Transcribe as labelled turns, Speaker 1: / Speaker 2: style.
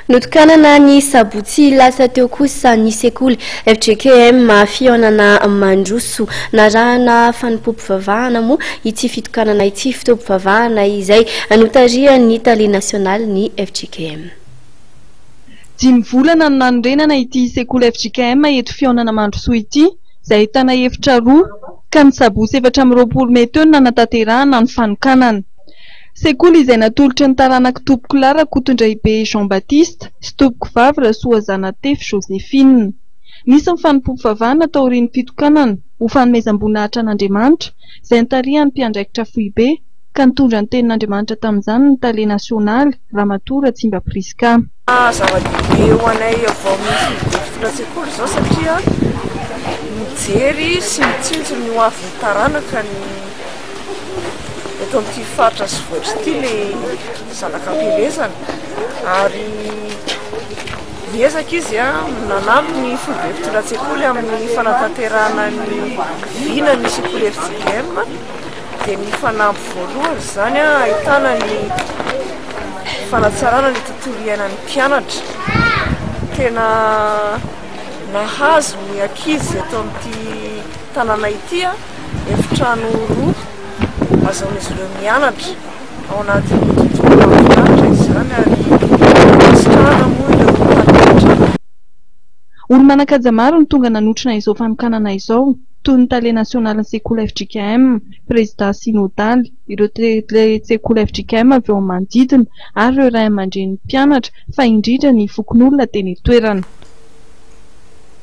Speaker 1: Notokanana ny sabotsy lasa teo kosa ny sekoly fjkm Fihaonana Mandroso. Narahana fanompoam-pivavahana moa ity fitokanana ity, fotoam-pivavahana izay notarihan'ny tale nasionalin'ny fjkm.
Speaker 2: Dimy volana no nanorenana ity sekoly fjkm eto Fihaonana Mandrosoa ity, izay ahitana efitra roa, ka ny sabotsy efatra amby roapolo mey teo no nanatanterahana ny fanokanana. Sekoly izay natolotry ny taranak'i Tompoko lahy Rakotondraibe Jean Baptiste sy Tompoko vavy Rasoa Zanatefy Joséphine. Nisy ny fanompoam-pivavahana taorian'ny fitokanana ho fanomezam-boninahitra an'Andriamanitra izay nitarihan'ny mpiandraikitra foibe ka nitondra ny tenin'Andriamanitra tamin'izany ny Tale nasionaly Ramatoa Ratsimba Prisca. Zava-dehibe
Speaker 3: ho anay vao misy ny boky fito an-tsekoly izao satria mijery sy mitsinjo ny hoavin'ny taranaka ny eto amin'ity faritra sy vohitra ity ilay zanaka am-pielezana ary miezaka izy nanampy ny foibe mpitondra an-tsekoly amin'ny fanatanterahana ny vina ny sekoly FJM dia ny fanamby voalohany izany an, ahitana ny fanatsarana ny tontolo iainan'ny mpianatra. Tena nahazo ny ankizy eto amin'ity tanàna ity an, efitrano roa ahazoan'izy ireo mianatra ao anatin'ny tontolo mahafinaritra izany ary mankasitrahana moa ireo mpampianatra.
Speaker 2: Olo-manan-kaja maro no tonga nanotrona izao fanokanana izao. toy ny tale nasionalin'ny sekoly fjkm, prezidà sinodaly, ireo tale-tsekoly fjkm avy eo amin'ny manodidina ary ireo ray aman-drenin'ny mpianatra fa indrindra ny fokonolona teny an-toerana.